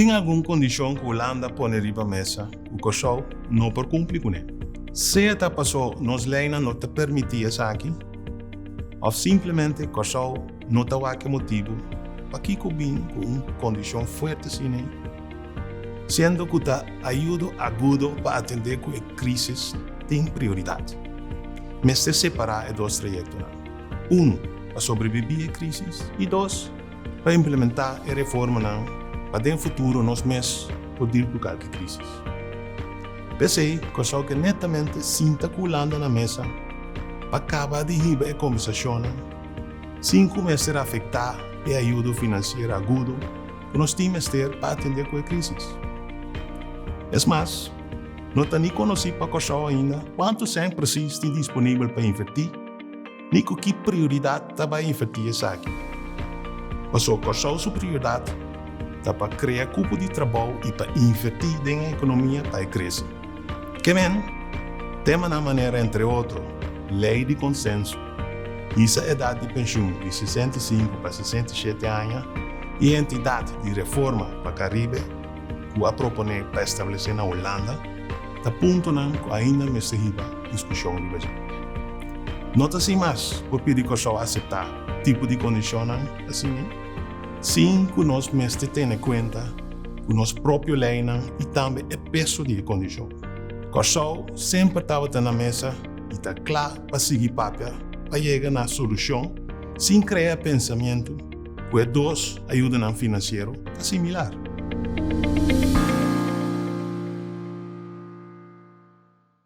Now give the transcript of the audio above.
Tin algun kondishon ku Hulanda pone riba mesa ku Kòrsou no por kumpli kuné, sea ta pasó nos leinan no ta permití esaki òf simplemente Kòrsou No ta wak e motibu pakiko bin ku un kondishon fuerte sina ei, siendo ku ta ayudo agudo pa atendé ku e krísis tin prioridat. Mester separá e dos trayektonan, unu pa sobrebibí e krísis i dos pa implementá e reformanan pa den futuro nos mes por dil ku kalke krísis. P'esei Kòrsou ke netamente sinta ku Hulanda na mesa pa kaba di hiba e kombersashonnan. Sin cu mester afecta e ayudo financiero agudo cu nos tin mester pa atende cu e crisis. Es mas, no ta ni conoci pa Corsou ainda cuanto cent precies tin disponibel pa inverti ni cu ki prioridad ta bay inverti esaki. Pasobra Corsou su prioridad ta pa crea cupo di trabou y pa inverti den e economia pa e crece. Kemen temanan manera entre otro lei di konsenso, hisa edat di penshun di sesenta i sinku pa sesenta i shete aña i entidat di reforma pa Karibe ku a proponé pa establesé na Hulanda ta puntonan ku ainda mester hiba diskushon riba dje. No ta sin mas por pidi Kòrsou aseptá tipo di kondishonnan asina? sin ku nos mester tene kuenta ku nos propio leinan i tambe e peso di e kondishon. Kòrsou semper tabata na mesa i ta kla pa sigui papia pa yega na solushon sin krea pensamientu ku e dos ayudanan finansiero ta similar.